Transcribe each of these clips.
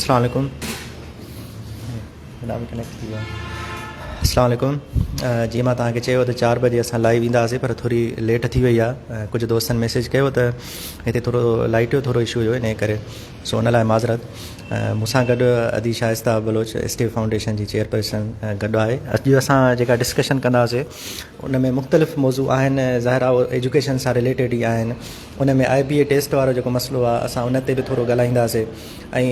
السلام عليڪم جناب ڪنيڪٽ ٿي ويو السلام عليڪم جي مان تان کي چيو ته چار بجي اسان لائيو ويندا سي پر ٿوري ليٽ ٿي وئي آ ڪجهه دوستن ميسج ڪيو ته هتي ٿورو لائٽ جو ٿورو اشو هيو انهي ڪري سو ان لاء معذرت. مون سان گڏ ادي شائسته بلوچ اسٽيو فائونڊيشن جي چيئرپرسن گڏ آهي. اڄ اسان جيڪا ڊسڪشن ڪنداسين ان ۾ مختلف موضوع آهن ظاهر آهي اهي ايجوڪيشن سان رليٽيڊ ئي آهن ان ۾ آئي بي اي ٽيسٽ وارو جيڪو مسئلو آهي اسان ان تي به ٿورو ڳالهائينداسين ۽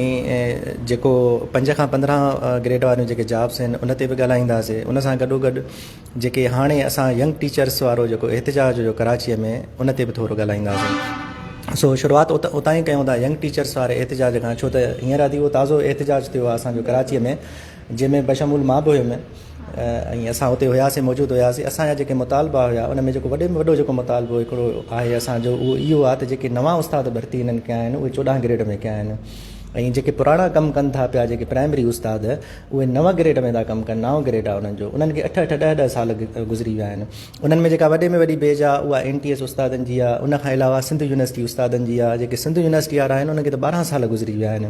جيڪو پنج کان پندرهن گريڊ واريون جيڪي جابس آهن ان تي به ڳالهائينداسين ان سان گڏوگڏ جيڪي هاڻي اسان ينگ ٽيچرس وارو جيڪو احتجاج هيو ڪراچي ۾ ان تي به ٿورو ڳالهائينداسين سو شروعات اتان ئي ڪيون ٿا ينگ ٽيچرس واري احتجاج کان ڇو ته هينئر ادي اهو تازو احتجاج ٿيو آهي اسان جو ڪراچي ۾ جنهن ۾ بشمول مان به هيم ۽ اسان اتي هياسين موجود هياسين اسان جا جيڪي مطالبا هيا ان ۾ جيڪو وڏي ۾ وڏو جيڪو مطالبو هڪڙو آهي اسان جو اهو اهو آهي ته جيڪي نوان استاد ڀرتي هنن ڪيا آهن اهي چوڏهن گريڊ ۾ ڪيا آهن ۽ جيڪي پراڻا ڪم ڪن ٿا پيا جيڪي پرائمري استاد اهي نو گريڊ ۾ ٿا ڪم ڪن، نائون گريڊ آهي انهن جو، انهن کي اٺ اٺ، ڏهه ڏهه سال گذري ويا آهن. انهن ۾ جيڪا وڏي ۾ وڏي بيج آهي اها اين ٽي ايس استادن جي آهي، ان کان علاوه سنڌ يونيورسٽي استادن جي آهي، جيڪي سنڌ يونيورسٽي وارا آهن انهن کي ته ٻارهن سال گذري ويا آهن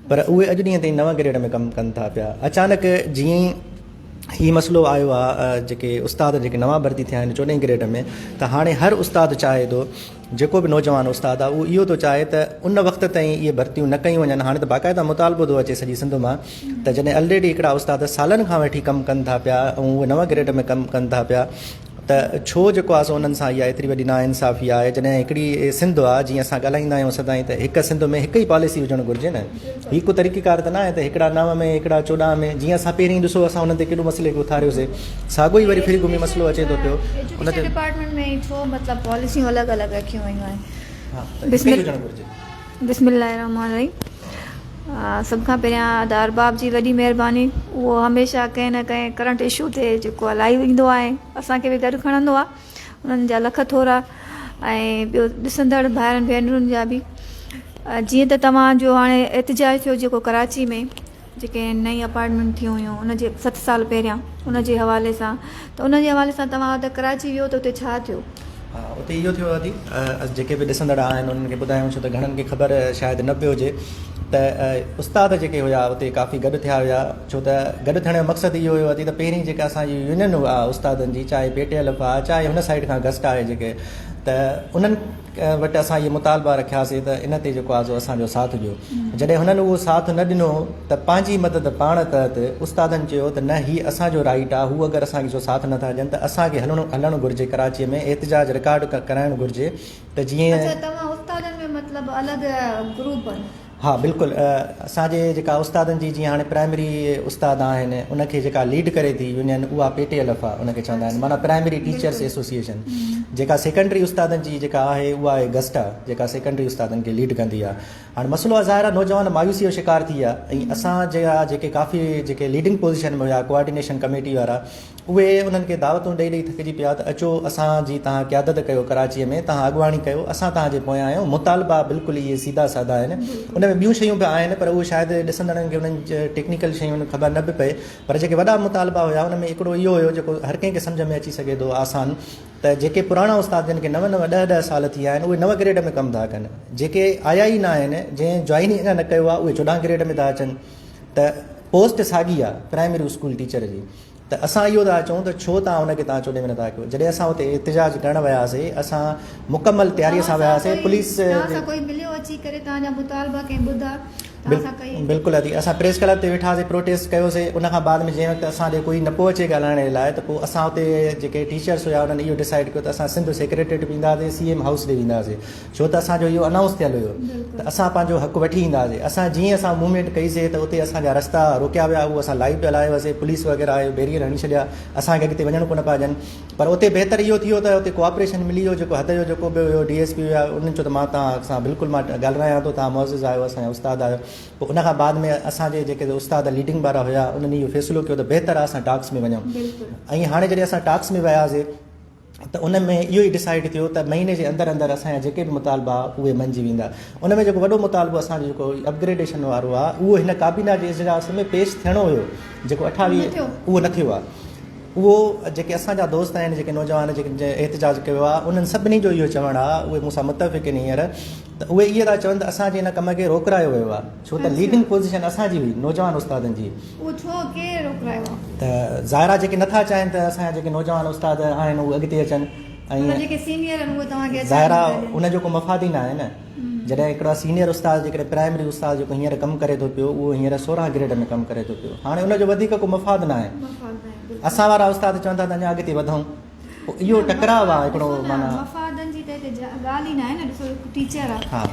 پر اهي اڄ ڏينهن تائين نو گريڊ ۾ ڪم ڪن ٿا پيا. اچانڪ جيئن ئي هي مسئلو آيو آهي جيڪي استاد جيڪي نوان ڀرتي ٿيا آهن چوڏهين گريڊ ۾ ته هاڻي هر استاد چاهي ٿو جيڪو به نوجوان استاد آ اهو اهو ٿو چاهي ته ان وقت تائين اهي ڀرتيون نه ڪيون وڃن هاڻي ته باقاعده مطالبو ٿو اچي سڄي سنڌ مان ته جڏهن الريڊي هڪڙا استاد سالن کان وٺي ڪم ڪن ٿا پيا ۽ اهي نو گريڊ ۾ ڪم ڪن ٿا پيا ته ڇو جيڪو آ سو انهن سان اها ايتري وڏي ناانصافي آهي جڏهن هڪڙي سنڌ آ جيئن اسان ڳالهائيندا آهيون سدائين ته هڪ سنڌ ۾ هڪ ئي پاليسي هجڻ گهرجي نه هي ڪو طريقه ڪار ته ناهي ته هڪڙا نو ۾ هڪڙا چوڏهن ۾ جيئن اسان پهرين ڏسو اسان انهن تي ڪيڏو مسئلي کي اٿاريو سي ساڳو ئي وري ڦري گهمي مسئلو اچي ٿو پيو ان تي ڊپارٽمينٽ ۾ هي ڇو مطلب پاليسيون الڳ الڳ رکيون ويون آهن ها ته هڪ ئي هجڻ گهرجي بسم الله الرحمٰن الرحيم سڀ کان پهريان ادا ارباب جي وڏي مهرباني اهو هميشه ڪنهن نه ڪنهن ڪرنٽ اشو تي جيڪو لائيو ايندو آهي اسان کي به گڏ کڻندو آهي انهن جا لک ٿورا ۽ ٻيو ڏسندڙ ڀائرن ڀينرن جا به جيئن ته توهان جو هاڻي احتجاج ٿيو جيڪو ڪراچي ۾ جيڪي نئين اپارٽمينٽ ٿيون هيون ان جي ست سال پهريان ان جي حوالي سان ته ان جي حوالي سان توهان ته ڪراچي ويو ته اتي ڇا ٿيو؟ اتي اهو ٿيو ادي اسين جيڪي به ڏسندڙ آهن انهن کي ٻڌايون ڇو ته گهڻن کي خبر شايد نه به هجي ته استاد جيڪي هيا اتي ڪافي گڏ ٿيا هيا ڇو ته گڏ ٿيڻ جو مقصد اهو هيو ته پهرين جيڪا اسان جي يونين آ استادن جي چاهي پي ٽي ايل ايف آ چاهي هن سائيڊ کان گسٽ آهي جيڪي ته انهن وٽ اسان اهي مطالبا رکياسي ته ان تي جيڪو آ سو اسان جو ساٿ ڏيو جڏهن هنن اهو ساٿ نه ڏنو ته پنهنجي مدد پاڻ تحت استادن چيو ته نه هي اسان جو رائيٽ آ هو اگر اسان جو ساٿ نٿا ڏين ته اسان کي هلڻو هلڻ گهرجي ڪراچي ۾ احتجاج رڪارڊ ڪرائڻ گهرجي ته جيئن اڇا توهان استادن ۾ مطلب الڳ گروپ ها بلڪل اسان جي جيڪا استادن جي جيئن هاڻي پرائمري استاد آهن ان کي جيڪا ليڊ ڪري ٿي يونين اها پي ٽي ايل ايف آهي ان کي چوندا آهن معنيٰ پرائمري ٽيچرس ايسوسيئيشن جيڪا سيڪنڊري استادن جي جيڪا آهي اها آهي گسٽا جيڪا سيڪنڊري استادن کي ليڊ ڪندي آهي هاڻي مسئلو آهي ظاهر آهي نوجوان مايوسي جو شڪار ٿي ويا ۽ اسان جي جيڪي ڪافي جيڪي ليڊنگ پوزيشن ۾ هيا ڪوآرڊينيشن ڪميٽي وارا اهي انهن کي دعوتون ڏئي ڏئي ٿڪجي پيا ته اچو اسان جي تهان قيادت ڪيو ڪراچيء ۾ تهان اڳواڻي ڪيو اسان تهان جي پويان آهيون مطالبا بلڪل اهي سيڌا سادا آهن ان ۾ ٻيون شيون به آهن پر اهي شايد ڏسندڙن کي انهن ٽيڪنيڪل شيون خبر نه به پئي پر جيڪي وڏا مطالبا هيا ان ۾ هڪڙو اهو هيو جيڪو هر ڪنهن کي سمجهه ۾ اچي سگهي ٿو آسان ته جيڪي پراڻا استاد جن کي نو نو ڏهه ڏهه سال ٿي ويا آهن اهي نو گريڊ ۾ ڪم ٿا ڪن جيڪي آيا ئي نه آهن جنهن جوائن ئي اڃا نه ڪيو آهي اهي چوڏهن گريڊ ۾ ٿا اچن ته پوسٽ ساڳي آهي پرائمري اسڪول ٽيچر جي ته اسان اهو ٿا چئون ته ڇو توهان ان کي توهان چونڊي ۾ نٿا ڪيو جڏهن اسان اتي احتجاج ڪرڻ وياسي اسان مڪمل تياري سان وياسي پوليس جي بلڪل ادي اسان پريس ڪلب تي ويٺا سي پروٽيسٽ ڪيو سي ان کان بعد ۾ جنهن وقت اسان ڏي ڪوئي نه پو اچي ڳالهائڻ جي لاء ته پو اسان اتي جيڪي ٽيچرس هيا انهن اهو ڊسائيڊ ڪيو ته اسان سنڌ سيڪريٽريٽ به وينداسي سي ايم هائوس ڏي وينداسي ڇو ته اسان جو اهو انائونس ٿيل هيو ته اسان پنهنجو حق وٺي اينداسين اسان جيئن اسان موومينٽ ڪئي سي ته اتي اسان جا رستا روڪيا ويا اهو اسان لائيو پيا لايو هئاسين پوليس وغيره آيو بيريئر هڻي ڇڏيا اسان کي اڳتي وڃڻ ڪونه پيا ڏين پر اتي بهتر اهو ٿيو ته اتي ڪوآپريشن ملي ويو جيڪو حد جو جيڪو به هيو ڊي ايس پي هيا انهن چيو ته مان تان سان بلڪل مان ڳالرايان ٿو تان معزز آهيو اسان جا استاد آهيو پوء ان کان بعد ۾ اسان جي جيڪي استاد ليڊنگ وارا هيا انهن اهو فيصلو ڪيو ته بهتر آهي اسان ٽاڪس ۾ وڃون ۽ هاڻي جڏهن اسان ٽاڪس ۾ وياسين ته ان ۾ اهو ئي ڊسائيڊ ٿيو ته مهيني جي اندر اندر اسان جا جيڪي به مطالبا اهي منجي ويندا ان ۾ جيڪو وڏو مطالبو اسان جو جيڪو اپگريڊيشن وارو آ اهو هن ڪابينا جي اجلاس ۾ پيش ٿيڻو هيو جيڪو اٺاويهه اهو نه ٿيو آ اهو جيڪي اسان جا دوست آهن جيڪي نوجوان جيڪي احتجاج ڪيو آ انهن سڀني جو اهو چوڻ آ اهي مون سان متفق آهن هينئر ته اهي اهي ٿا چون ته اسان جي ان ڪم کي روڪرايو ويو آ ڇو ته ليڊنگ پوزيشن اسان جي هئي نوجوان استادن جي. اهو ڇو ڪي روڪرايو آ؟ ته ظاهر آ جيڪي نٿا چاهين ته اسان جا جيڪي نوجوان استاد آهن اهي اڳتي اچن ۽ مطلب جيڪي سينيئر آهن اهي توهان کي اچڻ ظاهر آ نٿا ان جو ڪو مفاد ئي نه آهي نه جڏهن هڪڙو سينيئر استاد جيڪڏهن پرائمري استاد جيڪو هينئر ڪم ڪري ٿو پيو اهو هينئر سورهن گريڊ ۾ ڪم ڪري ٿو پيو هاڻي ان جو وڌيڪ ڪو مفاد نه آهي مفاد نه آهي بلڪل اسان وارا استاد چون ٿا ته اڃا اڳتي وڌون. اهو ٽڪراء آ هڪڙو معنيٰ مفادن جي ته هتي ڳالهه ئي ناهي نه ڏسو هڪ ٽيچر آ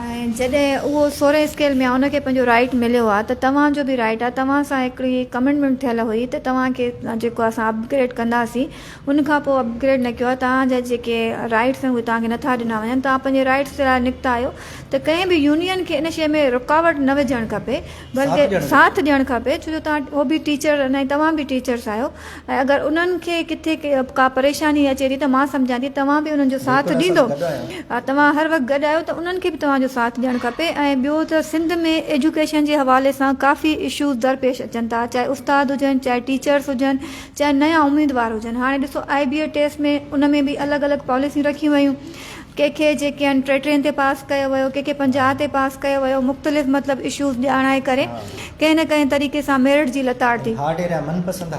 ۽ جڏهن اهو سورهين اسڪيل ۾ آ ان کي پنهنجو رائيٽ مليو آ ته توهان جو به رائيٽ آ توهان سان هڪڙي ڪمنٽمينٽ ٿيل هئي ته توهان کي جيڪو آ اسان اپگريڊ ڪنداسين ان کان پوء اپگريڊ نه ڪيو آ توهان جا جيڪي رائيٽس آهن اهي توهان کي نٿا ڏنا وڃن توهان پنهنجي رائيٽس جي لاء نڪتا آهيو ته ڪنهن به يونين کي ان شي ۾ رڪاوٽ نه وجهڻ کپي بلڪه ساٿ ڏيڻ کپي ڇو جو توهان او به ٽيچر آهن ۽ توهان به ٽيچرس آهيو ۽ اگر انهن کي ڪٿي ڪا پريشاني اچي ٿي ته مان سمجهان ٿي توهان به انهن جو ساٿ ڏيندو توهان هر وقت گڏ آهيو ته انهن کي به توهان جو ساٿ ڏيڻ کپي ۽ ٻيو ته سنڌ ۾ ايجوڪيشن جي حوالي سان ڪافي اشوز درپيش اچن ٿا چاهي استاد هجن چاهي ٽيچرس هجن چاهي نيا اميدوار هجن هاڻي ڏسو آئي بي اي ٽيسٽ ۾ ان ۾ به الڳ الڳ پاليسيون رکيون ويون ڪنهن کي جيڪي آهن ٽي ٽين تي پاس ڪيو ويو ڪنهن کي پنجاهه تي پاس ڪيو ويو مختلف مطلب اشوز ڄاڻائي ڪري ڪنهن نه ڪنهن طريقي سان ميرٽ جي لتاڙ ٿي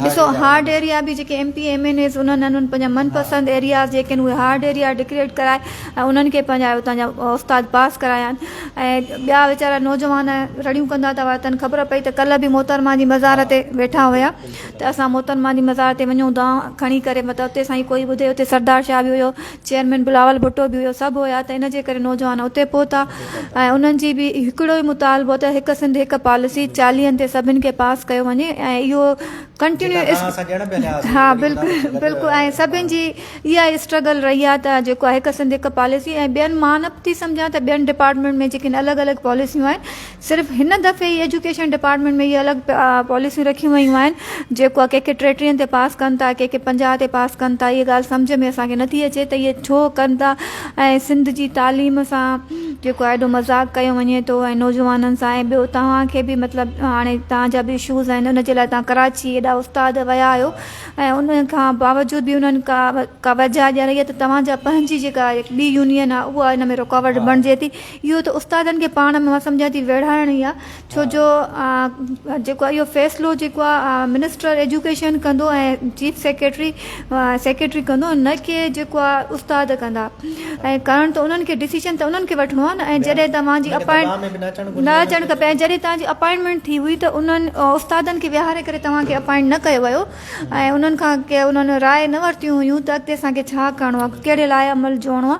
ڏسو هارڊ ايريا به جيڪي M P M N As انهن انهن پنهنجا من پسند ايرياز جيڪي آهن اهي هارڊ ايريا ڊڪريٽ ڪرائي ۽ انهن کي پنهنجا اتان جا استاد پاس ڪرايا آهن ۽ ٻيا ويچارا نوجوان رڙيون ڪندا ٿا واتن خبر پئي ته ڪلهه به محترمه جي مزار تي ويٺا هيا ته اسان محترمه جي مزار تي وڃون دعا کڻي ڪري مطلب اتي سائين ڪوئي ٻڌي اتي سردار شاهه به هيو چيئرمين بلاول ڀٽو به هيو، سڀ هيا ته ان جي ڪري نوجوان اتي پهتا ۽ انهن جي به هڪڙو ئي مطالبو هو ته هڪ سنڌ هڪ پاليسي چاليهن تي سڀن کي پاس ڪيو وڃي ۽ اهو ڪنٽينيو جيڪا نعرا اسان ڏيڻ به هليا هئاسين ها ليڪن انهن سان بلڪل گڏ بلڪل ۽ سڀن جي اها ئي اسٽرگل رهي آهي ته جيڪو آهي هڪ سنڌ هڪ پاليسي ۽ ٻين مان نه ٿي سمجهان ته ٻين ڊپارٽمينٽ ۾ جيڪي الڳ الڳ پاليسيون آهن صرف هن دفعي ئي ايجوڪيشن ڊپارٽمينٽ ۾ اهي الڳ پاليسيون رکيون ويون آهن جيڪو ڪي ڪي ٽي ٽين تي پاس ڪن ٿا ڪي ڪي پنجاهه تي پاس ڪن ٿا اهي ڳالهه سمجهه ۾ اسان کي نٿي اچي ته اهي ڇو ڪن ٿا ۽ سنڌ جي تعليم سان جيڪو آهي ايڏو مذاق ڪيو وڃي ٿو ۽ نوجوانن سان ۽ ٻيو توهان کي به مطلب هاڻي توهان جا به اشوز آهن ان جي لاء توهان ڪراچي ايڏا استاد ويا آهيو ۽ ان کان باوجود به انهن ڪا وجهه ڏياري آهي ته توهان جا پنهنجي جيڪا ٻي يونين آهي اها ان ۾ رڪاوٽ بڻجي ٿي اهو ته استادن کي پاڻ ۾ مان سمجهان ٿي ويڙهائڻ ئي آ ڇو جو جيڪو اهو فيصلو جيڪو آ منسٽر ايجوڪيشن ڪندو ۽ چيف سيڪريٽري سيڪريٽري ڪندو نه ڪي جيڪو آ استاد ڪندا ۽ ڪرڻ ته انهن کي ڊسيشن ته انهن کي وٺڻو آ نه ۽ جڏهن توهان جي اپائنٽ نه اچڻ کپي ۽ جڏهن توهان جي اپائنٽمينٽ ٿي هئي ته انهن استادن کي ويهاري ڪري توهان کي اپائنٽ نه ڪيو ويو ۽ انهن کان ڪي انهن راء نه ورتيون هيون ته اڳتي اسان کي ڇا ڪرڻو آ ڪهڙي لاء عمل جوڙڻو آ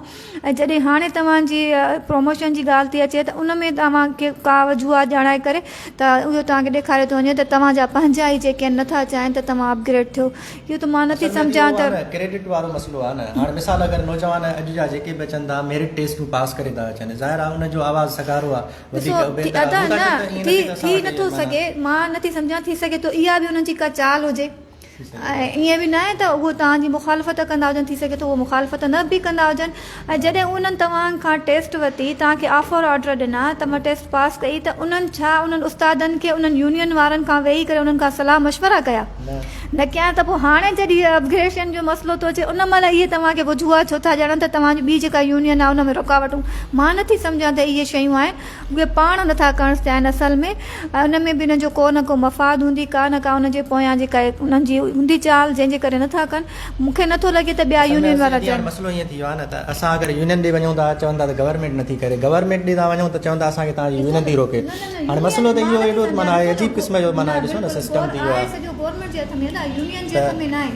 ۽ جڏهن هاڻي توهان جي پروموشن جي ڳالهه ٿي اچي ته ان ۾ اوهان کي ڪا به جوا ڄاڻائي ڪري ته اهو توهان کي ڏيکاريو ٿو وڃي ته توهان جا پنهنجا ئي جيڪي آهن نٿا چاهين ته توهان اپگريڊ ٿيو اهو ته مان نٿي سمجهان ته ڪريڊٽ وارو مسئلو آهي نه هاڻ مثال اگر نوجوان اڄ جا جيڪي به اچن ٿا ميرٽ ٽيسٽون پاس ڪري ٿا اچن ظاهر آهي ان جو آواز سگهارو آهي وڌيڪ ڏسو ٿي ادا نه ٿي ٿي نٿو سگهي مان نٿي سمجهان ٿي سگهي ٿو اها به انهن جي ڪا چال هجي. ائين به ناهي ته اهو توهان جي مخالفت ڪندا هجن، ٿي سگهي ٿو اهو مخالفت نه به ڪندا هجن ۽ جڏهن انهن توهان کان ٽيسٽ ورتي، توهان کي آفر آرڊر ڏنا، توهان ٽيسٽ پاس ڪئي ته انهن ڇا انهن استادن کي انهن يونين وارن کان ويهي ڪري انهن کان صلاح مشورا ڪيا؟ نه ڪيا ته پوء هاڻي جڏهن هي اپگريشن جو مسئلو ٿو اچي ان مهل اهي توهان کي وجوهات ڇو ٿا ڄاڻن ته توهان جي ٻي جيڪا يونين آهي ان ۾ رڪاوٽون مان نٿي سمجهان ته اهي شيون آهن اهي پاڻ نٿا ڪرڻ چاهين اصل ۾ ان ۾ به انهن جو ڪو نه ڪو مفاد هوندي ڪا نه ڪا انهن جي پويان جي ڪا انهن جي هوندي چال جنهن جي ڪري نٿا ڪن مون کي نٿو لڳي ته ٻيا يونين وارا جن سندس مسئلو ائين ٿي ويو آهي نه ته اسان اگر يونين ڏي وڃون ٿا چون ٿا ته گورنمينٽ نٿي ڪري گورنمينٽ ڏي تان وڃون ته چون ٿا اسان کي تهانجي يونين ٿي روڪي هاڻي مسئلو ته اهو اهڙو معنيٰ آهي عجيب قسم جو معنيٰ ڏسو نه سسٽم ٿي ويو آهي گورنمينٽ جي هٿ ۾ آهي نه يونين جي هٿ ۾ نه آهي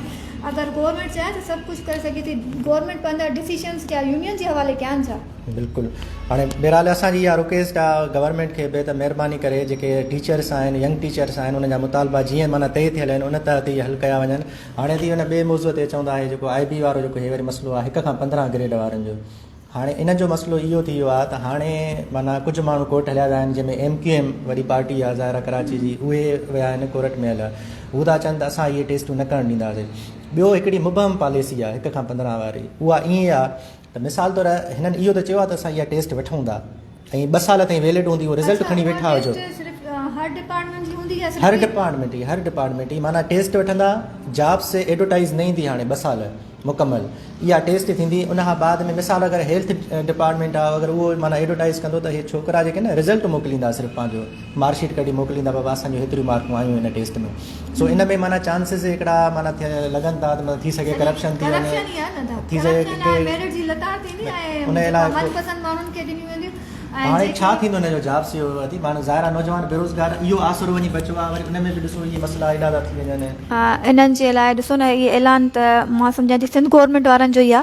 اگر گورنمينٽ چاهي ته سڀ ڪجهه ڪري سگهي ٿي گورنمينٽ پنهنجا ڊسيشنز ڪيا يونين جي حوالي ڪيا آهن ڇا بلڪل هاڻي بهرحال اسان جي اها رڪويسٽ آ گورنمينٽ کي به ته مهرباني ڪري جيڪي ٽيچرس آهن ينگ ٽيچرس آهن انهن جا مطالبا جيئن معنيٰ طئي ٿيل آهن ان تحت ئي حل ڪيا وڃن هاڻي ٿي ان ٻئي موضوع تي اچون ٿا هي جيڪو آء بي وارو جيڪو هي وري مسئلو آ هڪ کان پندرهن گريڊ وارن جو هاڻي ان جو مسئلو اهو ٿي ويو آ ته هاڻي معنيٰ ڪجهه ماڻهو ڪورٽ هليا ويا آهن جنهن ۾ ايم ڪيو ايم وڏي پارٽي آ ظاهر آ ڪراچي جي اهي ويا آهن ڪورٽ ۾ هليا هو ٿا چون ته اسان اهي ٽيسٽون نه ڪرڻ ڏينداسين ٻيو هڪڙي مبهم پاليسي آ هڪ کان پندرهن واري اها ائين آ ته مثال طور هنن اهو ته چيو آهي ته اسان اها ٽيسٽ وٺون ٿا ۽ ٻه سال تائين ويلڊ هوندي اهو رزلٽ کڻي ويٺا هجو. اها ٽيسٽ صرف هر ڊپارٽمينٽ جي هوندي يا صرف هر ڊپارٽمينٽ جي هر ڊپارٽمينٽ جي معنيٰ ٽيسٽ وٺندا جابس تي ايڊورٽائيز نه ايندي هاڻي ٻه سال مڪمل اها ٽيسٽ ٿيندي ان کان بعد ۾ مثال اگر هيلٿ ڊپارٽمينٽ آهي اگر اهو معنيٰ ايڊورٽائيز ڪندو ته هي ڇوڪرا جيڪي نه رزلٽ موڪليندا صرف پنهنجو مارڪ شيٽ ڪڍي موڪليندا بابا اسان جون هيتريون مارڪون آيون هن ٽيسٽ ۾ سو ان ۾ معنيٰ چانسز هڪڙا معنيٰ لڳن ٿا ته ٿي سگهي ڪرپشن ٿي وڃي ٿي سگهي ميرٽ جي لتاڙ ٿيندي ۽ من پسند ماڻهن کي ڏنيون وينديون هاڻي ڇا ٿيندو هن جو جاب سي او ادي ماڻهو ظاهر نوجوان بيروزگار اهو آسرو وڃي بچو آ وري ان ۾ به ڏسو هي مسئلا ايڏا ٿا ٿي وڃن انهن جي لاء ڏسو نه هي اعلان ته مان سمجهان ٿي سنڌ گورنمينٽ وارن جو ئي آ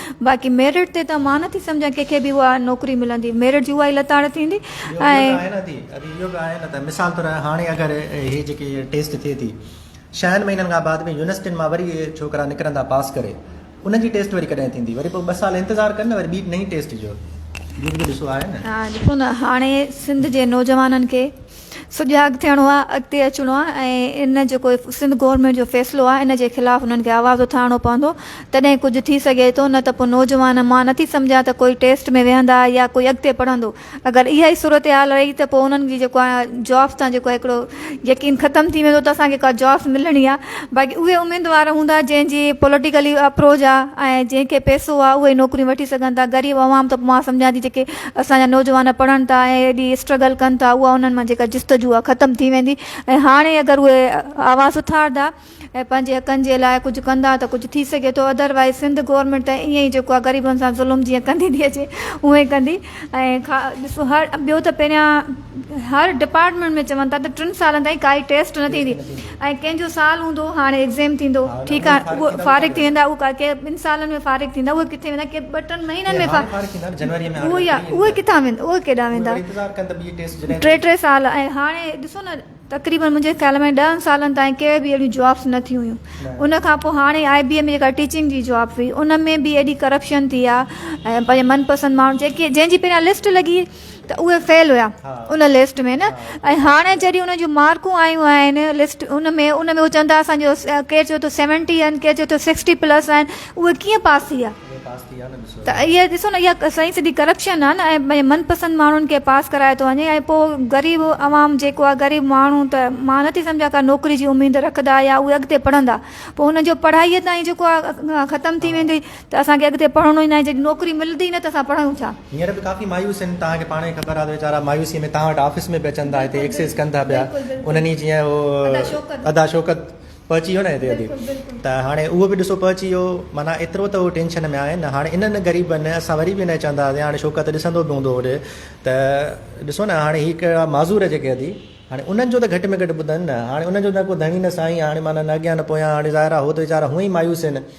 باقي ميرٽ تي ته مان نه ٿي سمجهان ڪنهن کي به اها نوڪري ملندي. ميرٽ جي اها ئي لتاڙ ٿيندي ۽. مثال طور هاڻي اگر هي جيڪي ٽيسٽ ٿئي ٿي ڇهن مهينن کان بعد ۾ يونيورسٽين مان وري اهي ڇوڪرا نڪرندا پاس ڪري انهن جي ٽيسٽ وري ڪڏهن ٿيندي وري پوء ٻه سال انتظار ڪن نه وري ٻي نئين ٽيسٽ جو ڏسو آهي نه. ڏسو نه هاڻي سنڌ جي نوجوانن کي سجاڳ ٿيڻو آ اڳتي اچڻو آ ۽ ان جيڪو سنڌ گورنمينٽ جو فيصلو آ ان جي خلاف انهن کي آواز اٿارڻو پوندو تڏهن ڪجهه ٿي سگهي ٿو نه ته پوء نوجوان مان نٿي سمجهان ته ڪوئي ٽيسٽ ۾ ويهندا يا ڪوئي اڳتي پڙهندو اگر اها ئي صورتحال رهي ته پوء انهن جي جيڪو آ جابس تان جيڪو آ هڪڙو يقين ختم ٿي ويندو ته اسان کي ڪا جابس ملڻي آ باقي اهي اميدوار هوندا جنهن جي پوليٽيڪلي اپروچ آ ۽ جنهن کي پئسو آ اهي نوڪريون وٺي سگهن ٿا غريب عوام ته مان سمجهان ٿي جيڪي اسان جا نوجوان پڙهن ٿا ۽ ايڏي اسٽرگل ڪن ٿا اها انهن مان جيڪا جستجو آهي ختم ٿي ويندي ۽ هاڻي اگر اهي آواز اٿاردا ۽ پنهنجي حقن جي لاء ڪجهه ڪندا ته ڪجهه ٿي سگهي ٿو اڌر وائيز سنڌ گورمينٽ ته ائين ئي جيڪو آهي غريبن سان ظلم جيئن ڪندي ٿي اچي اهو ئي ڪندي ۽ ڏسو هر ٻيو ته پهريان هر ڊپارٽمينٽ ۾ چون ٿا ته ٽن سالن تائين ڪائي ٽيسٽ نه ٿيندي ۽ ڪنهن جو سال هوندو هاڻي ايگزيم ٿيندو ٺيڪ آهي اهو فارغ ٿي ويندا اهو ڪي ٻن سالن ۾ فارغ ٿيندا اهي ڪٿي ويندا ڪي ٻه ٽن مهينن ۾ فارغ ٿيندا اهو يا اهي ڪٿان ويندا اهي ڪيڏانهن ويندا ٽي ٽي سال ۽ هاڻي ڏسو نه تقريبن منهنجي خيال ۾ ڏهن سالن تائين ڪي به اهڙيون جابس نه ٿيون هيون ان کان پوء هاڻي آئي بي اي ۾ جيڪا ٽيچنگ جي جاب هئي ان ۾ به ايڏي ڪرپشن ٿي آهي ۽ پنهنجي من پسند ماڻهو جيڪي جنهن جي پهريان لسٽ لڳي ته اهي فيل هيا ان لسٽ ۾ نه ۽ هاڻي جڏهن ان جون مارڪون آيون آهن لسٽ ان ۾ ان ۾ هو چوندا اسان جو ڪير چيو ٿو سيونٽي آهن ڪير چيو ٿو سڪسٽي پلس آهن اهي ڪيئن پاس ٿي ويا ته اهي ڏسو نه اها سائين سڌي ڪرپشن آهي نه ۽ من پسند ماڻهن کي پاس ڪرايو ٿو وڃي ۽ پوء غريب عوام جيڪو آهي غريب ماڻهو ته مان نٿي سمجهان ڪا نوڪري جي اميد رکندا يا اهي اڳتي پڙهندا پوء ان جو پڙهائي تائين جيڪو آهي ختم ٿي ويندي ته اسان کي اڳتي پڙهڻو ئي ناهي، جڏهن نوڪري ملندي ئي نه ته اسان پڙهيون ڇا؟ هينئر به ڪافي مايوس آهن، توهان کي پاڻ ئي خبر آهي ته ويچارا مايوسيء ۾ توهان وٽ آفيس ۾ به اچن ٿا، هتي ايڪسرسائيز ڪن ٿا پيا، انهن ئي جيئن اهو ادا شوڪت پهچي ويو نه هتي ته هاڻي اهو به ڏسو پهچي ويو، معنيٰ ايترو ته اهو ٽينشن ۾ آهن، هاڻي انهن غريبن اسان وري به انهيء چونداسين، هاڻي شوڪت ڏسندو به هوندو هوڏي ته ڏسو نه هاڻي هي ڪهڙا معذور جيڪي ادي هاڻي انهن جو ته گهٽ ۾ گهٽ ٻڌن نه، هاڻي انهن جو نه ڪو ڌڻي نه سائين، هاڻي معنيٰ نه اڳيان نه پويان، هاڻي ظاهر آهي هو ته ويچارا هونئن ئي مايوس آهن.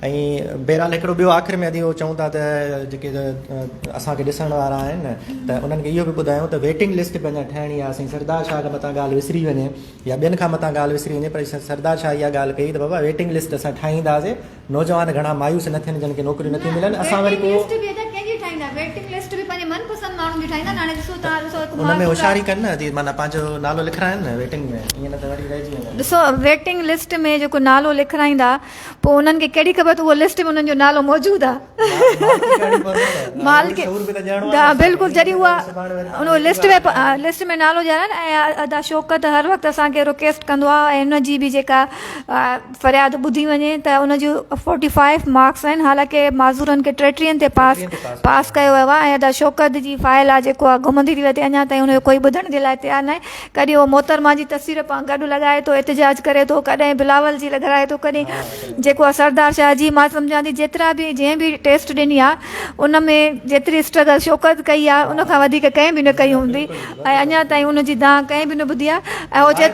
۽ بهرحال هڪڙو ٻيو آخر ۾ ادي اهو چئون ٿا ته جيڪي اسان کي ڏسڻ وارا آهن ته انهن کي اهو به ٻڌايون ته ويٽنگ لسٽ به اڃا ٺهڻي آهي سائين سردار شاهه کان متان ڳالهه وسري وڃي يا ٻين کان متان ڳالهه وسري وڃي پر سردار شاهه اها ڳالهه ڪئي ته بابا ويٽنگ لسٽ اسان ٺاهينداسي نوجوان گهڻا مايوس نه ٿين جن کي نوڪريون نٿيون ملن اسان وري ڪو ان ۾ هوشياري ڪن نه ادي معنيٰ پنهنجو نالو لکرائن نه ويٽنگ ۾ ايئن نه ته وري رهجي ويندن ڏسو ويٽنگ لسٽ ۾ جيڪو نالو لکرائيندا پوء انهن کي ڪهڙي خبر ته اهو لسٽ ۾ انهن جو نالو موجود آ. مالڪي ڏا بلڪل جڏهن اها ان لسٽ ۾ لسٽ ۾ نالو ڄاڻائين ۽ ادا شوڪت هر وقت اسان کي رڪيسٽ ڪندو آ ۽ ان جي به جيڪا فرياد ٻڌي وڃي ته ان جون فورٽي فائيف مارڪس آهن حالانڪه معذورن کي ٽيٽرين تي پاس پاس ڪيو ويو آ ۽ ادا شوڪت جي فائل آ جيڪو آ گهمندي ٿي وتي اڃا تائين ان جو ڪوئي ٻڌڻ جي لاء تيار ناهي ڪڏهن هو محترمه جي تصوير پان گڏ لڳائي ٿو احتجاج ڪري ٿو ڪڏهن بلاول جي لڳرائي ٿو ڪڏهن جيڪو آهي سردار شاهه جي مان سمجهان ٿي جيترا به جنهن به ٽيسٽ ڏني آهي ان ۾ جيتري اسٽرگل شوڪت ڪئي آهي ان کان وڌيڪ ڪنهن به نه ڪئي هوندي ۽ اڃا تائين ان جي دانهن ڪنهن به نه ٻڌي آهي ۽ هو چئي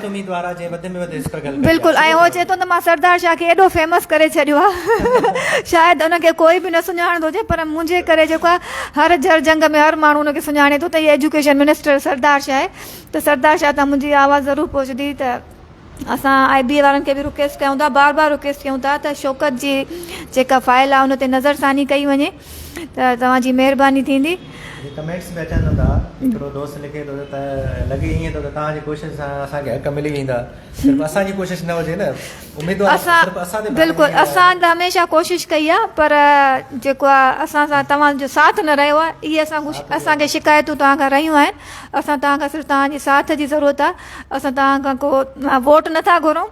بلڪل ۽ هو چئي ٿو ته مان سردار شاهه کي ايڏو فيمس ڪري ڇڏيو آهي شايد ان کي ڪوئي به نه سڃاڻندو هجي پر منهنجي ڪري جيڪو آهي هر جر جنگ ۾ هر ماڻهو ان کي سڃاڻي ٿو ته هي ايجوڪيشن منسٽر سردار شاهه ته سردار شاهه تان منهنجي اها آواز ضرور پهچندي ته اسان آء بي اي وارن کي به رڪويسٽ ڪيون ٿا بار بار رڪويسٽ ڪيون ٿا ته شوڪت جي جيڪا فائل آهي ان تي نظر ثاني ڪئي وڃي ته توهان جي مهرباني ٿيندي. هي ڪمينٽس به اچن ٿا هڪڙو دوست لکي ٿو ته لڳي ائين ٿو ته توهان جي ڪوشش سان اسان کي حق ملي ويندا صرف اسان جي ڪوشش نه هجي نه اميدوار صرف اسان تي بلڪل اسان ته هميشه ڪوشش ڪئي آهي پر جيڪو آهي اسان سان توهان جو ساٿ نه رهيو آهي اهي اسان کي شڪايتون توهان کان رهيون آهن اسان توهان کان صرف توهان جي ساٿ جي ضرورت آهي، اسان توهان کان ڪو ووٽ نه ٿا گهرون،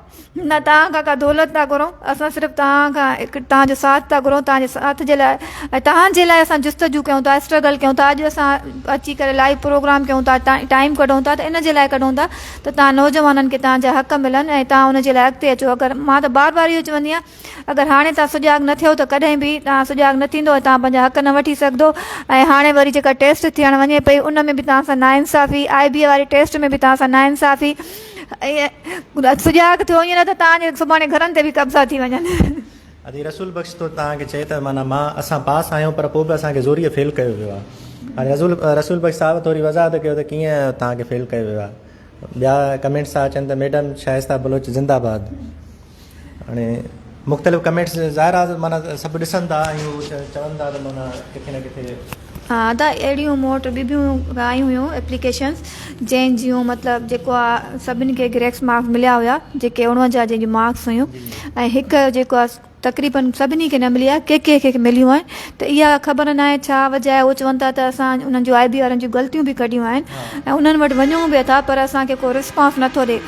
نه توهان کان ڪا دولت ٿا گهرون، اسان صرف توهان کان هڪ توهان جو ساٿ ٿا گهرون، توهان جي ساٿ جي لاء ۽ توهان جي لاء اسان جستجو ڪيون ٿا، اسٽرگل ڪيون ٿا، اڄ اسان اچي ڪري لائيو پروگرام ڪيون ٿا، ٽائيم ڪڍون ٿا ته ان جي لاء ڪڍون ٿا ته توهان نوجوانن کي توهان جا حق ملن ۽ توهان ان جي لاء اڳتي اچو، اگر مان ته بار بار اهو چوندي آهيان. اگر هاڻي توهان سجاڳ نه ٿيو ته ڪڏهن به توهان سجاڳ نه ٿيندو ۽ توهان پنهنجا حق نه وٺي سگهدو ۽ هاڻي وري جيڪا ٽيسٽ ٿيڻ وڃي پئي ان ۾ به توهان سان ناانصافي آء بي اي واري ٽيسٽ ۾ به توهان سان ناانصافي ۽ سجاڳ ٿيو ائين نه ته توهان جي سڀاڻي گهرن تي به قبضا ٿي وڃن. ادي رسول بخش تو توهان کي چئي ته معنيٰ مان اسان پاس آهيون پر پوء به اسان کي زوريء فيل ڪيو ويو آهي هاڻي رسول رسول بخش صاحب ٿوري وضاحت ڪيو ته ڪيئن توهان کي فيل ڪيو ويو آهي ٻيا ڪمينٽس ٿا اچن ته ميڊم شائسته بلوچ زنده باد. هاڻي مختلف ڪمينٽس ظاهر آ معنيٰ سڀ ڏسن ٿا ۽ چون ٿا ته معنيٰ ڪٿي نه ڪٿي ها ادا اهڙيون مون وٽ ٻي بيون آيون هيون اپليڪيشنس جنهن جون مطلب جيڪو آ سڀني کي گريڪس مارڪس مليا هيا جيڪي اڻونجاهه جنهن جون مارڪس هيون ۽ هڪ جيڪو آ تقريبن سڀني کي نه ملي آ ڪي ڪي کي مليون آهن ته اها خبر ناهي ڇا وجه آهي هو چون ٿا ته اسان انهن جي آء بي وارن جون غلطيون به ڪڍيون آهن ۽ انهن وٽ وڃون به ٿا پر اسان کي ڪو رسپانس نٿو ڏي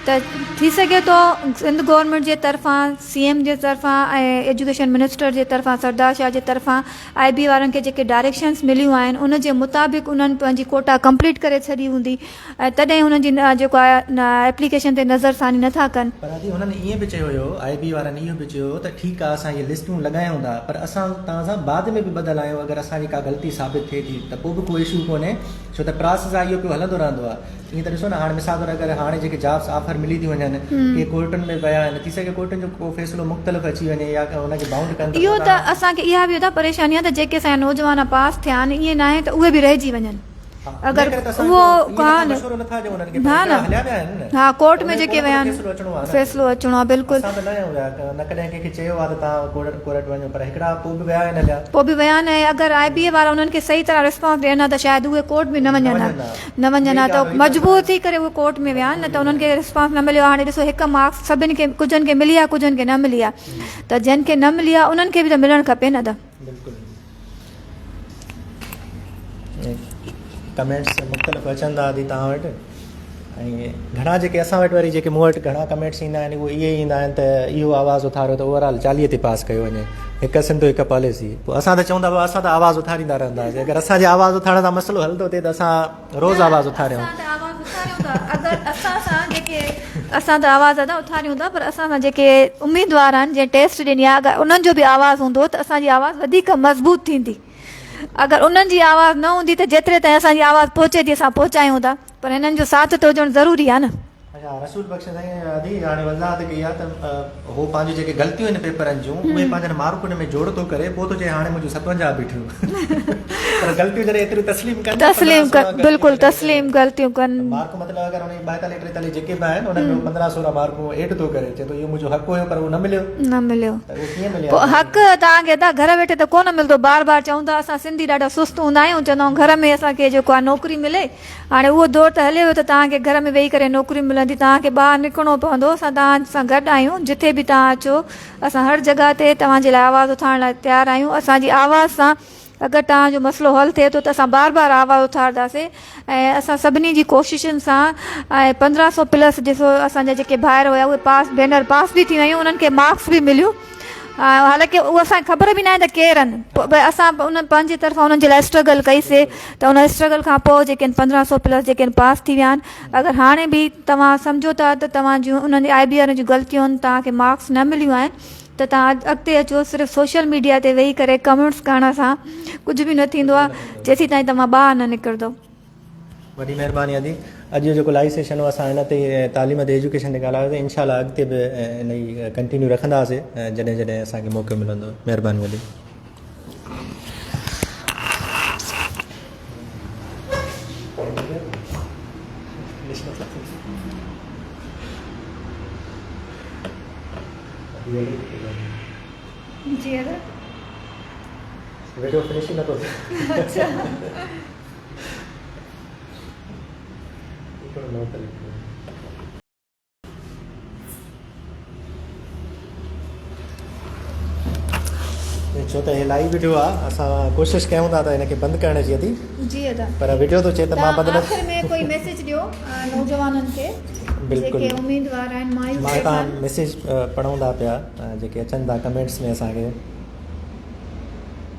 ته ٿي سگهي ٿو سنڌ گورنمينٽ جي طرفان سي ايم جي طرفان ۽ ايجوڪيشن منسٽر جي طرفان سردار شاهه جي طرفان آء بي وارن کي جيڪي ڊائريڪشنس مليون آهن ان جي مطابق انهن پنهنجي ڪوٽا ڪمپليٽ ڪري ڇڏي هوندي ۽ تڏهن هنن جي جيڪو آهي ايپليڪيشن تي نظر ثاني نه ٿا ڪن. پر اڄ هنن ايئن به چيو هيو، آء بي وارن اهو به چيو هو ته ٺيڪ آهي اسان اهي لسٽون لڳايون ٿا پر اسان توهان سان بعد ۾ به ٻڌل آهيون اگر اسان جي ڪا غلطي ثابت ٿئي ٿي ته پوء به ڪو اشو ڪونهي ڇو ته پراسيس آهي اهو پيو هلندو رهندو آهي ائين ته ڏسو نه هاڻ مثال طور اگر هاڻي جيڪي جابس آفر ملي ٿيون وڃن ڪي ڪورٽن ۾ ويا آهن ٿي سگهي ڪورٽن جو ڪو فيصلو مختلف اچي وڃي يا هن کي بائونڊ ڪن ته اهو ته اسان کي اها به ادا پريشاني آهي ته جيڪي اسان جا نوجوان پاس ٿيا آهن ايئن ناهي ته اهي به رهجي وڃن. اگر اهو ڪانه نه نه ها ڪورٽ ۾ جيڪي ويا آهن فيصلو اچڻو آهي بلڪل پوء به ويا آهن ۽ اگر آء بي اي وارا انهن کي صحيح طرح ريسپانس ڏين ها ته شايد اهي ڪورٽ به نه وڃن ها نه وڃن ها ته مجبور ٿي ڪري اهي ڪورٽ ۾ ويا آهن نه ته انهن کي ريسپانس نه مليو آهي هاڻي ڏسو هڪ مارڪس سڀن کي ڪجهن کي ملي آهي ڪجهن کي نه ملي آهي ته جن کي نه ملي آهي انهن کي به ته ملڻ کپي نه ته بلڪل ڪمينٽس مختلف اچن ٿا ادي تان وٽ ۽ گھڻا جيڪي اسان وٽ وري جيڪي مون وٽ گھڻا ڪمينٽس ايندا آهن اهي اهي ايندا آهن ته اهو آواز اٿاريو ته اوور آل چاليهه تي پاس ڪيو وڃي هڪ سنڌ هڪ پاليسي پوء اسان ته چون ٿا اسان ته آواز اٿاريندا رهنداسين اگر اسان جي آواز اٿارڻ سان مسئلو حل ٿو ٿئي ته اسان روز آواز اٿاريو. اگر اسان سان جيڪي اسان ته آواز ادا اٿاريون ٿا پر اسان سان جيڪي اميدوار آهن جنهن ٽيسٽ ڏني آهي اگر انهن جو به آواز هوندو ته اسان جي آواز وڌيڪ مضبوط ٿيندي اگر انهن جي آواز نه هوندي ته جيتري تائين اسان جي آواز پهچي ٿي اسان پهچايون ٿا پر هنن جو ساٿ ته هجڻ ضروري آهي نه. اچا رسول بخش سائين ادي هاڻي وضاحت ڪئي آ ته هو پنهنجون جيڪي غلطيون آهن پيپرن جون اهي پنهنجن مارڪن ۾ جوڙ ٿو ڪري پوء ٿو چئي هاڻي منهنجون ستونجاهه بيٺيون پر غلطيون جڏهن ايتريون تسليم ڪن تسليم ڪن بلڪل تسليم غلطيون ڪن مارڪ مطلب اگر انهي 42 43 جيڪي به آهن انهن ۾ 15 16 مارڪون ايڊ ٿو ڪري چئي ٿو اهو منهنجو حق هيو پر اهو نه مليو نه مليو ته اهو ڪيئن ملي پوء حق توهان کي ادا گهر ويٺي ته ڪونه ملندو بار بار چون ٿا اسان سنڌي ڏاڍا سست هوندا آهيون چوندا آهيون گهر ۾ اسان کي جيڪو آ نوڪري ملي هاڻي اهو دور ته هلي ويو ته توهان کي گهر ۾ ويهي ڪري نوڪريون ملن ٿيون، توهان کي ٻاهر نڪرڻو پوندو، اسان توهان سان گڏ آهيون، جتي به توهان اچو، اسان هر جڳهه تي توهان جي لاء آواز اٿارڻ لاء تيار آهيون، اسان جي آواز سان اگر توهان جو مسئلو حل ٿئي ٿو ته اسان بار بار آواز اٿارداسين ۽ اسان سڀني جي ڪوششن سان ۽ پندرهن سؤ پلس ڏسو اسان جا جيڪي ڀائر هيا اهي پاس ڀينر پاس به ٿيون ۽ انهن کي مارڪس به مليون. حالانڪ اهو اسان کي خبر به ناهي ته ڪير آهن پر اسان به انهن پنهنجي طرفان انهن جي لاء اسٽرگل ڪئي سي ته ان اسٽرگل کان پوء جيڪي آهن پندرهن سو پلس جيڪي آهن پاس ٿي ويا آهن اگر هاڻي به توهان سمجهو ٿا ته توهان جون انهن جي آء بي وارن جون غلطيون توهان کي مارڪس نه مليون آهن ته توهان اڳتي اچو صرف سوشل ميڊيا تي ويهي ڪري ڪمينٽس ڪرڻ سان ڪجهه به نه ٿيندو آهي جيسيتائين توهان ٻاهر نه نڪردو وڏي مهرباني ادي اڄ جو جيڪو لائيو سيشن هو اسان هن تي تعليم تي ايجوڪيشن تي ڳالهايو ته انشاء الله اڳتي به ان جي ڪنٽينيو رکنداسين جڏهن جڏهن اسان کي موقعو ملندو مهرباني ادي جي ادا ويڊيو فنش نه ٿو ٿي اچھا ڇو ته هي لائيو ويڊيو آ اسان ڪوشش ڪيون ٿا ته هن کي بند ڪرڻ جي ادي جي ادا پر ويڊيو تو چي ته مان بدل آخر ۾ ڪوئي ميسج ڏيو نوجوانن کي بلڪل جيڪي اميدوار آهن مايوس مان تا ميسج پڙهون ٿا پيا جيڪي اچن ٿا ڪمينٽس ۾ اسان کي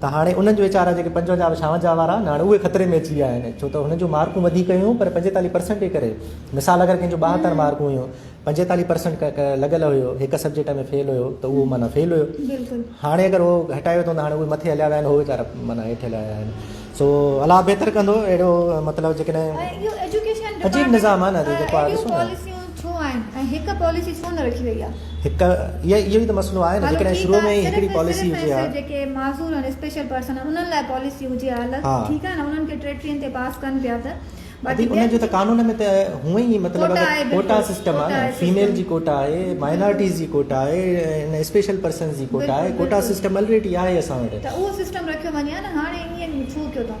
ته هاڻي انهن جو ويچارا جيڪي پنجونجاهه به ڇاونجاهه وارا آهن هاڻي اهي خطري ۾ اچي ويا آهن ڇو ته هنن جون مارڪون وڌيڪ هيون پر پنجيتاليهه پرسنٽ جي ڪري مثال اگر ڪنهن جون ٻاهتر مارڪون هيون پنجيتاليهه پرسنٽ لڳل هيو هڪ سبجيڪٽ ۾ فيل هيو ته اهو معنيٰ فيل هيو هاڻي اگر اهو هٽائي ويو ته هاڻي اهي مٿي هليا ويا آهن اهي ويچارا معنيٰ هيٺ هليا ويا آهن سو الله بهتر ڪندو اهڙو مطلب جيڪڏهن عجيب نظام آهي نه جيڪو آهي ڏسو نه ڇو آهن ۽ هڪ پاليسي ڇو نه رکي وئي آهي؟ هڪ اهو ئي ته مسئلو آهي نه هلو جيڪڏهن ٺيڪ شروع ۾ آهي ئي صرف هڪڙي ۽ پاليسي صرف هجي ۽ ها. صرف جيڪي معذور ۽ اسپيشل پرسن آهن انهن لاء پاليسي هجي ها هلت ها. ٺيڪ آهي نه انهن کي ٽي ٽين تي پاس ڪن پيا ته باقي ادي ان ٻين جو ته قانون ۾ ته هونئن ئي مطلب ڪوٽا آهي ڪوٽا بلڪل سسٽم ڪوٽا آهي آهي فيميل سسٽم جي ڪوٽا آهي مائنارٽيز جي ڪوٽا آهي ۽ اسپيشل پرسنز جي ڪوٽا آهي بلڪل ڪوٽا بلڪل سسٽم الريڊي آهي اسان وٽ. ته اهو سسٽم رکيو وڃي ها نه هاڻي ائين ڇو ڪيو ٿا؟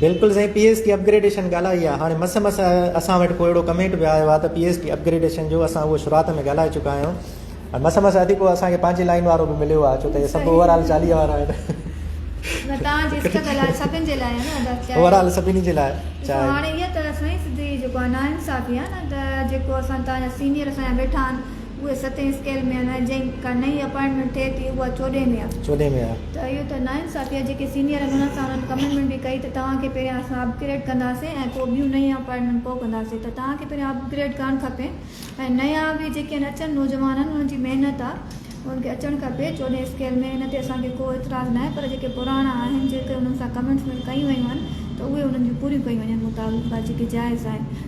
بلڪل سائين P S T upgradation ڳالهائي آ هاڻي مس مس اسان وٽ ڪو اهڙو ڪمينٽ به آيو آ ته P S T upgradation جو اسان اهو شروعات ۾ ڳالهائي چڪا آهيون ۽ مس مس ادي ڪو اسان کي پنهنجي لائين وارو به مليو آ ڇو ته سڀ اوور آل 40 وارا آهن نه تان جي اسڪ ڳالهائي سڀن جي لاء نه ادا چاهي اوور آل سڀني جي لاء چاهي هاڻي هي ته سائين سڌي جيڪو نا انصافي آ نه ته جيڪو اسان تان جا سينيئر اسان جا ويٺا آهن اهي ستين اسڪيل ۾ آهن ۽ جنهن ڪا نئين اپائنٽمينٽ ٿئي ٿي اها چوڏهين ۾ آهي. چوڏهين ۾ آهي. ته اهو ته ناانصافي آهي. جيڪي سينيئر آهن انهن سان انهن ڪميٽمينٽ به ڪئي ته توهان کي پهريان اسان اپ گريڊ ڪنداسين ۽ پوء ٻيون نيون اپائنٽمينٽ پوء ڪنداسين ته توهان کي پهريان اپ گريڊ ڪرڻ کپي ۽ نيا به جيڪي آهن اچن نوجوان آهن انهن جي محنت آهي انهن کي اچڻ کپي چوڏهين اسڪيل ۾ ان تي اسان کي ڪو اعتراض ناهي پر جيڪي پراڻا آهن جيڪي انهن سان ڪميٽمينٽ ڪيون ويون آهن ته اهي انهن جون پوريون ڪيون وڃن مطابقت جيڪي جائز آهن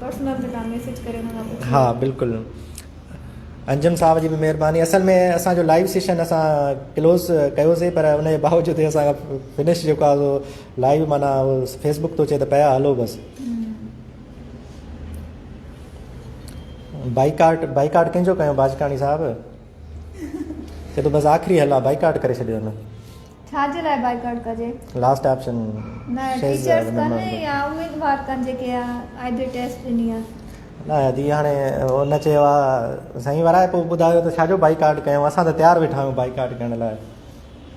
پرسنل تي تان ميسج ڪري ان کان پڇي ها بلڪل انجم صاحب جي به مهرباني اصل ۾ اسان جو لائيو سيشن اسان ڪلوز ڪيو سي پر ان جي باوجود اسان فنش جيڪو آ سو لائيو معنی فيس بڪ تو چي ته پيا هلو بس بائيڪاٽ بائيڪاٽ ڪنهن جو ڪيو باجڪاڻي صاحب چي تو بس آخري هلا بائيڪاٽ ڪري ڇڏيو هن ڇا جي لاء بائيڪاٽ ڪجي؟ لاسٽ آپشن نه ٽيچرز ڪن يا اميدوار ڪن جيڪي آئي بي ٽيسٽ ڏني آ. نه جي هاڻي ان چيو آ سائين ورائي پو ٻڌايو ته ڇاجو بائيڪاٽ ڪيون اسان ته تيار ويٺا آهيون بائيڪاٽ ڪرڻ لاء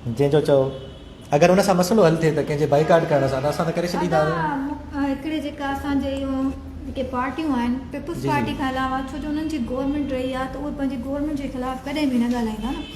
جنهن جو چئو اگر ان سان مسئلو حل ٿئي ته ڪنهن جي بائيڪاٽ ڪرڻ سان ته اسان ته ڪري ڇڏيندا هڪڙي جيڪا اسان جي اهو جيڪي پارٽيون آهن پيپلز پارٽي کان علاوه ڇو جو انهن جي گورنمينٽ رهي آ ته اهي پنهنجي گورنمينٽ جي خلاف ڪڏهن به نه ڳالهائيندا نه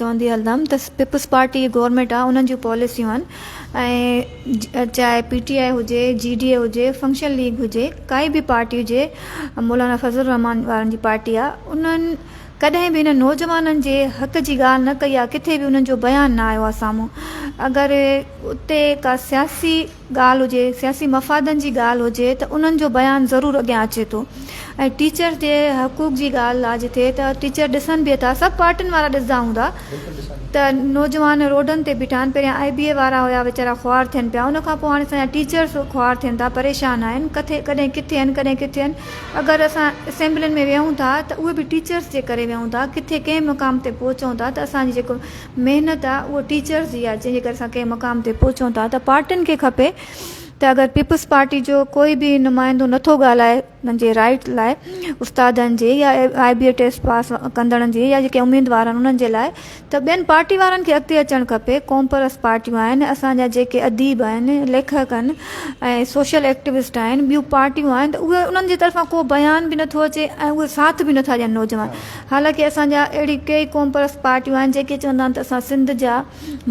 چوندي هلندم ته پيپلز پارٽي هي گورنمينٽ آ انهن جون پاليسيون آهن ۽ چاهي پي ٽي آء هجي جي ڊي اي هجي فنڪشن ليگ هجي ڪائي به پارٽي هجي مولانا فضل الرحمان وارن جي پارٽي آ انهن ڪڏهن به انهن نوجوانن جي حق جي ڳالهه نه ڪئي آ ڪٿي به انهن جو بيان نه آيو آ سامهون اگر اتي ڪا سياسي ڳالهه هجي، سياسي مفادن جي ڳالهه هجي ته انهن جو بيان ضرور اڳيان اچي ٿو ۽ ٽيچرز جي حقوق جي ڳالهه آجي ٿئي ته ٽيچر ڏسن به ٿا سڀ پارٽين وارا ڏسندا هوندا ته نوجوان روڊن تي بيٺا آهن پهريان آئي بي اي وارا هيا ويچارا خوار ٿين پيا ان کانپوء هاڻي اسان جا ٽيچرز خوار ٿين ٿا پريشان آهن ڪٿي ڪڏهن ڪٿي آهن ڪڏهن ڪٿي آهن اگر اسان اسيمبلين ۾ ويهون ٿا ته اهي به ٽيچرز جي ڪري ويهون ٿا ڪٿي ڪنهن مقام تي پهچون ٿا ته اسان جي جيڪو محنت آ اهو ٽيچرز جي آ جنهن جي ڪري اسان ڪنهن مقام تي پهچون ٿا ته پارٽين کي کپي ته اگر پيپلز پارٽي جو ڪوئي به نمائندو نٿو ڳالهائي انهن جي رائيٽ لاء استادن جي يا آئي بي اي ٽيسٽ پاس ڪندڙن جي يا جيڪي اميدوار آهن انهن جي لاء ته ٻين پارٽي وارن کي اڳتي اچڻ کپي قومپرست پارٽيون آهن اسان جا جيڪي اديب آهن ليکڪ آهن ۽ سوشل ايڪٽوسٽ آهن ٻيون پارٽيون آهن ته اهي انهن جي طرفان ڪو بيان به نٿو اچي ۽ اهي ساٿ به نٿا ڏين نوجوان حالانڪه اسان جا اهڙيون ڪيئي قوم پرست پارٽيون آهن جيڪي چوندا آهن ته اسان سنڌ جا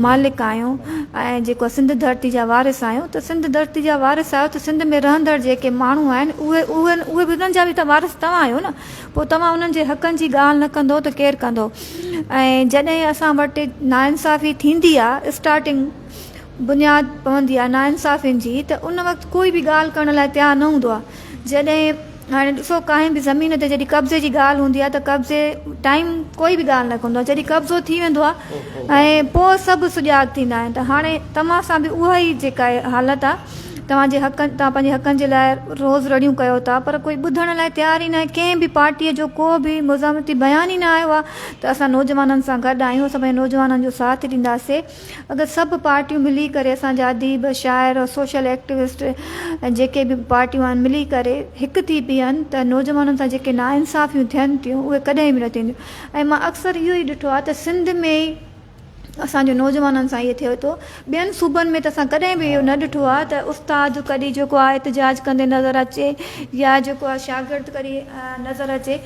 مالڪ آهيون ۽ جيڪو سنڌ ڌرتي جا وارث آهيون ته سنڌ ڌرتي جا وارث آهيو ته سنڌ ۾ رهندڙ جيڪي ماڻهو آهن اهي به انهن جا به ته وارث توهان آهيو نه پوء توهان انهن جي حقن جي ڳالهه نه ڪندو ته ڪير ڪندو ۽ جڏهن اسان وٽ ناانصافي ٿيندي آهي اسٽارٽنگ بنياد پوندي آهي ناانصافين جي ته ان وقت ڪوئي به ڳالهه ڪرڻ لاء تيار نه هوندو آهي جڏهن هاڻي ڏسو ڪانهن به زمين تي جڏهن قبضي جي ڳالهه هوندي آهي ته قبضي ٽائيم ڪوئي به ڳالهه نه ڪندو آهي جڏهن قبضو ٿي ويندو آهي ۽ پوء سڀ سجاڳ ٿيندا آهن ته هاڻي توهان سان به اها ئي جيڪا حالت آهي توهان جي حقن توهان پنهنجي حقن جي لاء روز رڙيون ڪيو ٿا پر ڪوئي ٻڌڻ لاء تيار ئي نه آهي ڪنهن به پارٽيء جو ڪو به مزاحمتي بيان ئي نه آيو آهي ته اسان نوجوانن سان گڏ آهيون اسان پنهنجي نوجوانن جو ساٿ ڏينداسين اگر سڀ پارٽيون ملي ڪري اسان جا اديب شاعر ۽ سوشل ايڪٽوسٽ ۽ جيڪي به پارٽيون آهن ملي ڪري هڪ ٿي بيهن ته نوجوانن سان جيڪي ناانصافيون ٿين ٿيون اهي ڪڏهن به نه ٿينديون ۽ مان اڪثر اهو ئي ڏٺو آهي ته سنڌ ۾ ئي اسان جو نوجوانن سان اهو ٿئي ٿو ٻين صوبن ۾ ته اسان ڪڏهن به اهو نه ڏٺو آهي ته استاد ڪڏي جيڪو آهي احتجاج ڪندي نظر اچي يا جيڪو آهي شاگرد ڪري نظر اچي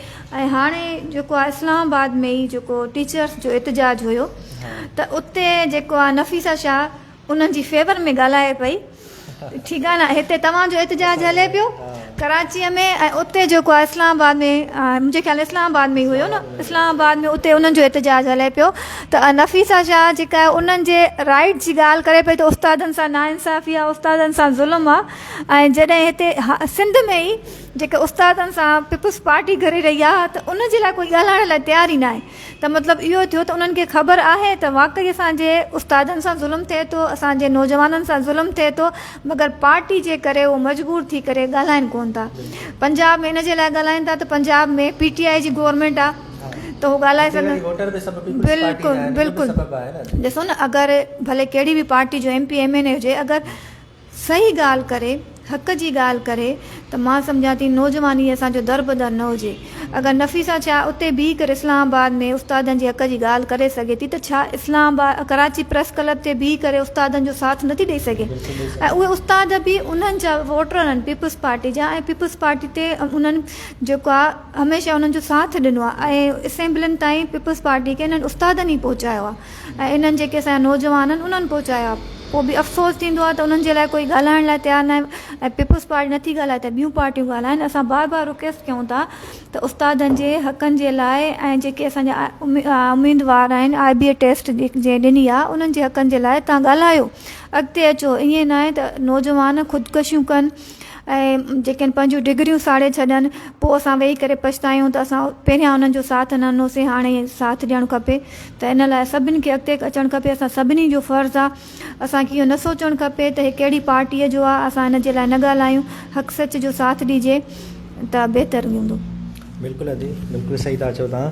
۽ هاڻي جيڪو آهي اسلام آباد ۾ ئي جيڪو ٽيچرس جو احتجاج هيو ته اتي جيڪو آ نفيسه شاهه انهن جي فيور ۾ ڳالهائي پئي ٺيڪ آ نه هتي توهان جو احتجاج هلي پيو ڪراچي ۾ ۽ اتي جيڪو آ اسلام آباد ۾ منهنجي خيال اسلام آباد ۾ هيو نه اسلام آباد ۾ اتي انهن جو احتجاج هلي پيو ته نفيسه شاهه جيڪا آ انهن جي رائيٽ جي ڳالهه ڪري پئي ته استادن سان نا انصافي آ استادن سان ظلم آ ۽ جڏهن هتي سنڌ ۾ ئي جيڪي استادن سان پيپلز پارٽي گهري رهي آ ته ان جي لاء ڪوئي ڳالهائڻ لاء تيار ئي ناهي ته مطلب اهو ٿيو ته انهن کي خبر آهي ته واقعي اسان جي استادن سان ظلم ٿئي ٿو، اسان جي نوجوانن سان ظلم ٿئي ٿو، مگر پارٽي جي ڪري اهو مجبور ٿي ڪري ڳالهائين ڪونه ٿا. پنجاب ۾ ان جي لاء ڳالهائين ٿا ته پنجاب ۾ پي ٽي آء جي گورنمينٽ آهي ته اهو ڳالهائي سگهن. بلڪل بلڪل ڏسو نه اگر ڀلي ڪهڙي به پارٽي جو M P M N A هجي اگر صحيح ڳالهه ڪري، حق جي ڳالهه ڪري ته مان سمجهان ٿي نوجواني اسان جو در به در نه هجي. اگر نفيسه شاهه اتي بيهي ڪري اسلام آباد ۾ استادن جي حق جي ڳالهه ڪري سگهي ٿي ته ڇا Islamabad Karachi press club تي بيهي ڪري استادن جو ساٿ نٿي ڏئي سگهي ۽ اهي استاد به انهن جا ووٽر آهن پيپلز پارٽي جا ۽ پيپلز پارٽي تي انهن جيڪو آهي هميشه انهن جو ساٿ ڏنو آهي ۽ اسيمبلين تائين پيپلز پارٽي کي انهن استادن ئي پهچايو آهي. ۽ انهن جيڪي اسان جا نوجوان آهن انهن پهچايا پوء به افسوس ٿيندو آهي ته انهن جي لاء ڪوئي ڳالهائڻ لاء تيار ناهي ۽ پيپلز پارٽي نٿي ڳالهائي ته ٻيون پارٽيون ڳالهائين اسان بار بار رڪيسٽ ڪيون ٿا ته استادن جي حقن جي لاء ۽ جيڪي اسان جا اميدوار آهن آء بي اي ٽيسٽ جنهن ڏني آهي انهن جي حقن جي لاء تهان ڳالهايو اڳتي اچو ائين ناهي ته نوجوان خودڪشيون ڪن ۽ جيڪي پنهنجون ڊگريون ساڙي ڇڏن پوء اسان ويهي ڪري پڇتايون ته اسان پهريان انهن جو ساٿ نه ڏنوسين هاڻي ساٿ ڏيڻ کپي ته ان لاء سڀني کي اڳتي اچڻ کپي، اسان سڀني جو فرض آ، اسان کي اهو نه سوچڻ کپي ته هي ڪهڙي پارٽيء جو آ، اسان ان جي لاء نه ڳالهايون، حق سچ جو ساٿ ڏجي ته بهتر هوندو. بلڪل ادي بلڪل صحيح ٿا چئو توهان.